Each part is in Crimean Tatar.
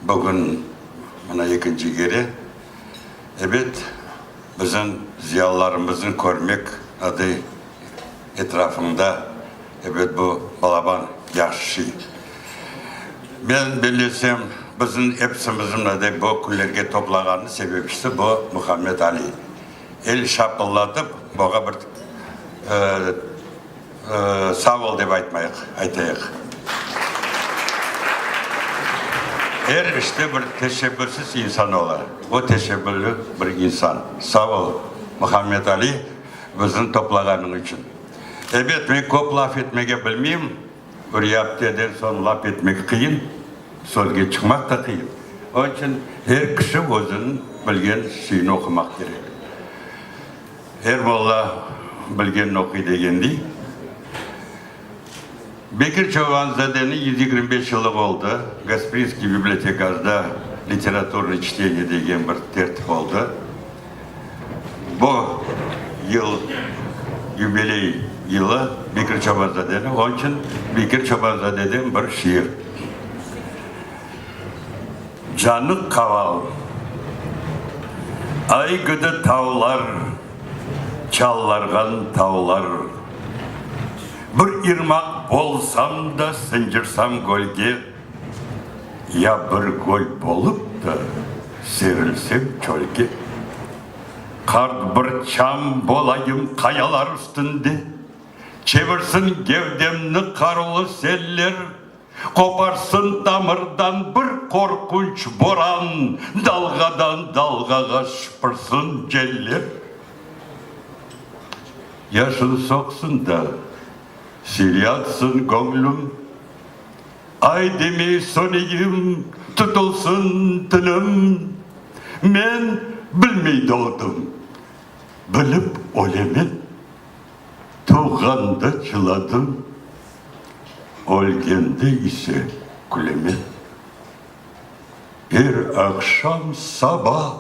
Bugün mına ekinci kere, ebet, bizim ziyalılarımıznı körmek adı etrafında, ebet, bu balaban yaşıy. Men bellesem, bizim epsimizni mına dey bu künlerge toplağanı sebepçisi bu Muhammed Ali. El şapıllatıp, buğa bir Sağ ol dep aytmayıq, aytayıq. Er işte bir teşebbürsiz insan ola. O teşebbürli bir insan. Sağ ol, Muhammed Ali, bizni toplağanıñ içün. Ebet, men köp laf etmege bilmeyim. Ürya apteden soñ laf etmek qıyın, sözge çıqmaq da qıyın. Onıñ içün er kişi özüniñ bilgen şeyini oqumaq kerek. Er bala bilgenini oquy degendiy, Bekir Çobanzadeniñ yüz yigirmi beş yılı oldı, Gasprinskiy bibliotekasda literaturnıy çteniye degen bir tertip oldı. Bu yıl yubiley yılı Bekir Çobanzadeniñ, onıñ içün Bekir Çobanzadeden bir şiir. Canıq qaval, ay gıdı tavlar, çallarğan tavlar. Bir irmaq bolsam da sıncırsam gölge, Ya bir göl bolıp da serilsem çölge. Qart bir çam bolayım qayalar üstünde, Çevirsin gevdemni qarulu seller. Qoparsın tamırdan bir qorqunç boran, Dalğadan dalğağa şıpırsın celler. Yaşın soqsın da, sel yatsın göñlüm, Ay demey söneyim, tutulsın tilim. Men bilmey doğdım, bilip ölemen. Tuvğanda çıladım, ölgende ise küleme. Er aqşam saba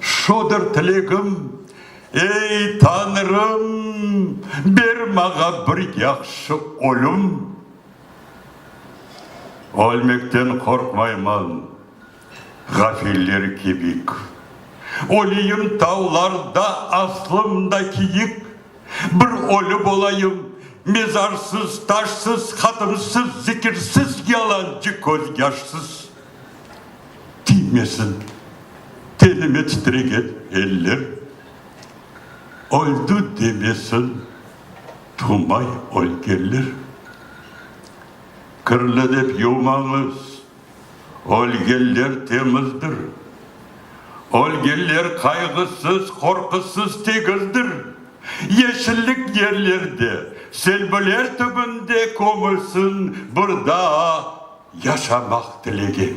şudur tilegim, Ey, Tañrım, ber maña bir yahşı ölüm. Ölmekten qorqmayman. Ğafiller kebik oliyim tavlarda Aslımda kiyik bir ölü bolayım Mezarsız, taşsız, hatımsız, zikirsiz Yalancı közyaşsız tiymesin tenime Titregen eller öldi demesin Tumay ölgenler. Kirli dep yumañız. Ölgenler temizdir. Ölgenler qayğısız, qorqusız, tegizdir. Yeşillik yerlerde, selbiler tübünde kömülsin, bir daa yaşamaq tilegi.